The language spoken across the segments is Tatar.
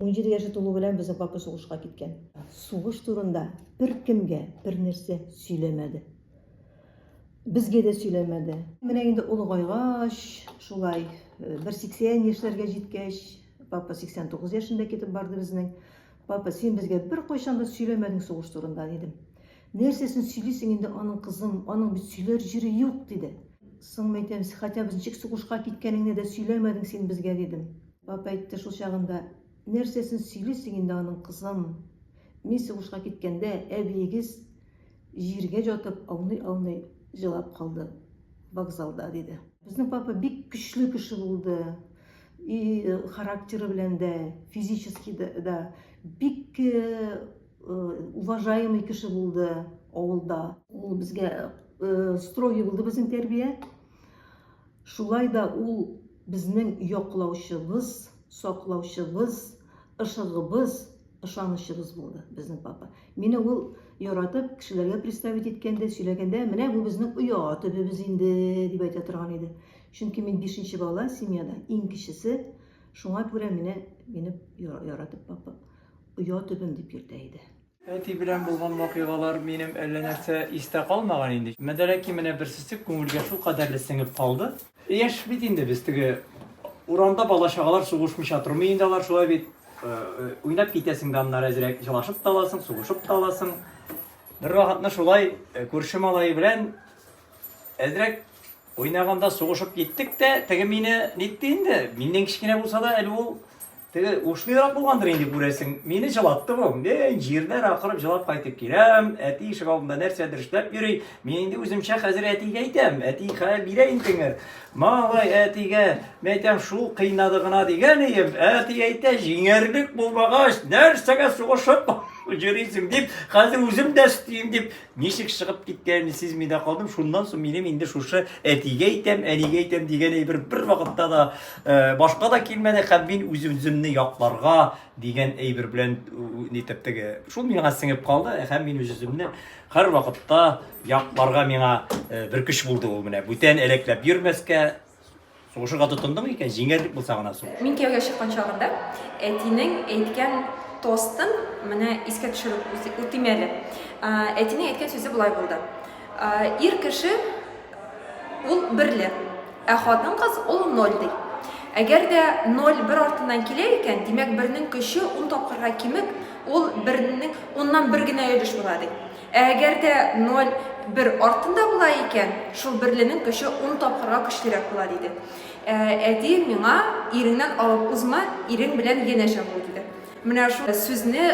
17 яше тулу белән безнең папа сугышка киткән. Сугыш турында беркемгә бернәрсә сөйләмәде. Безгә дә сөйләмәде. Менә инде олыгайгач, шулай э, бер 80 яшьләргә җиткәч, папа 89 яшендә китеп барды безнең. Папа, син безгә беркайчан да сөйләмәдең сугыш турында, дидем. Нәрсәсен сөйлисең инде аның кызым, аның бит сөйләр җире юк, диде. Соң мәйтәм, хотя без ничек сугышка киткәнеңне дә сөйләмәдең син безгә, дидем. Папа әйтте шул чагында, Нәрсәсен сөйлисең инде аның, кызым? Мин сугышка киткәндә, әбиегез җиргә ятып, ауный-ауный җылап калды вокзалда, диде. Безнең папа бик көчле кеше булды. И характеры белән дә, физически да бик уважаемый кеше булды авылда. Ул безгә строгий булды безнең тәрбия. Шулай да ул безнең яклаучыбыз, саклаучыбыз, ышыгыбыз, ышанычыбыз булды, безнең папа. Мине ул яратып, кешеләргә представить иткәндә, сөйләгәндә, менә бу безнең оя төбебез инде, дип әйтә торган иде. Чөнки мин бишенче бала семьяда, иң кечесе, шуңа күрә менә мине яратып папа оя төбем дип йөртә иде. Әти белән булган вакыйгалар минем әллә нәрсә истә калмаган инде. Мәдәләки менә бер сүзсез күңелгә шул кадәрле сеңеп калды. Яшь бит инде без, теге урамда бала-чагалар сугышмыйча тормый инде алар, шулай бит. Уйнап китәсең дә аннары әзрәк, җылашып та аласың, сугышып та аласың. Бервакытны шулай күрше малае белән әзрәк Уйнаганда сугышып киттек тә, теге мине нитте инде. Миннән кечкенә булса да, әле ул теге ушлырак булгандыр инде күрәсең. Мине җылатты бу. Мин җирдән акырып җылап кайтып киләм. Әти ишек алдында нәрсәдер эшләп йөри. Мин инде үземчә хәзер әтигә әйтәм. Әти хәл бирә интеңер. Малай әтигә, мин әйтәм, шул кыйнады гына дигән ием. Әти әйтә, җиңәрлек булмагач, нәрсәгә сугышып йөрисең дип, хәзер үзем дә өстим дип Ничек чыгып киткәнемне сизми дә калдым. Шуннан соң минем инде шушы әтигә әйтәм, әнигә әйтәм дигән әйбер бер вакытта да э, башка да килмәде һәм мин үз үземне якларга дигән әйбер белән нитеп теге. Шул миңа сеңеп калды һәм мин үз үземне һәр вакытта якларга миңа э, бер көч булды ул менә. Бүтән әләкләп йөрмәскә, Сугышырга тотындың икән, җиңәр дип булса гына сугыш. Мин кияүгә чыккан чагында әтинең әйткән тостын менә искә төшереп үтим әле. Әтинең әйткән сүзе болай булды. Ир кеше ул берле, ә хатын кыз ул ноль ди. Әгәр дә ноль бер артыннан килә икән, димәк бернең көче ун тапкырга кимеп, ул бернең уннан бер генә өлеш була ди. Ә әгәр дә ноль бер артында була икән, шул берленең көче ун тапкырга көчлерәк була, диде. Ә әти миңа, Иреңнән алып узма, ирең белән янәшә бул, диде. Менә шул сүзне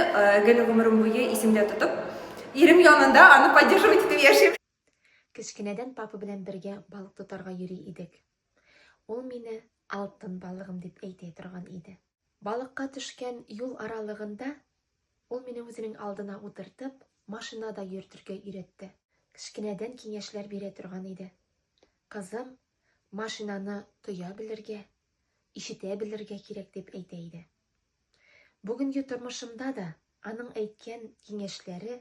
гел гомерем буе исемдә тотып, ирем янында аны поддерживать итеп яшим. Кечкенәдән папа белән бергә балык тотарга йөри идек. Ул мине алтын балыгым дип әйтә торган иде. Балыкка төшкән юл аралыгында ул мине үзенең алдына утыртып, машина да йөртергә өйрәтте. Кечкенәдән киңәшләр бирә торган иде. Кызым, машинаны тоя белергә, ишетә белергә кирәк, дип әйтә иде. Бүгенге тормышымда да аның әйткән киңәшләре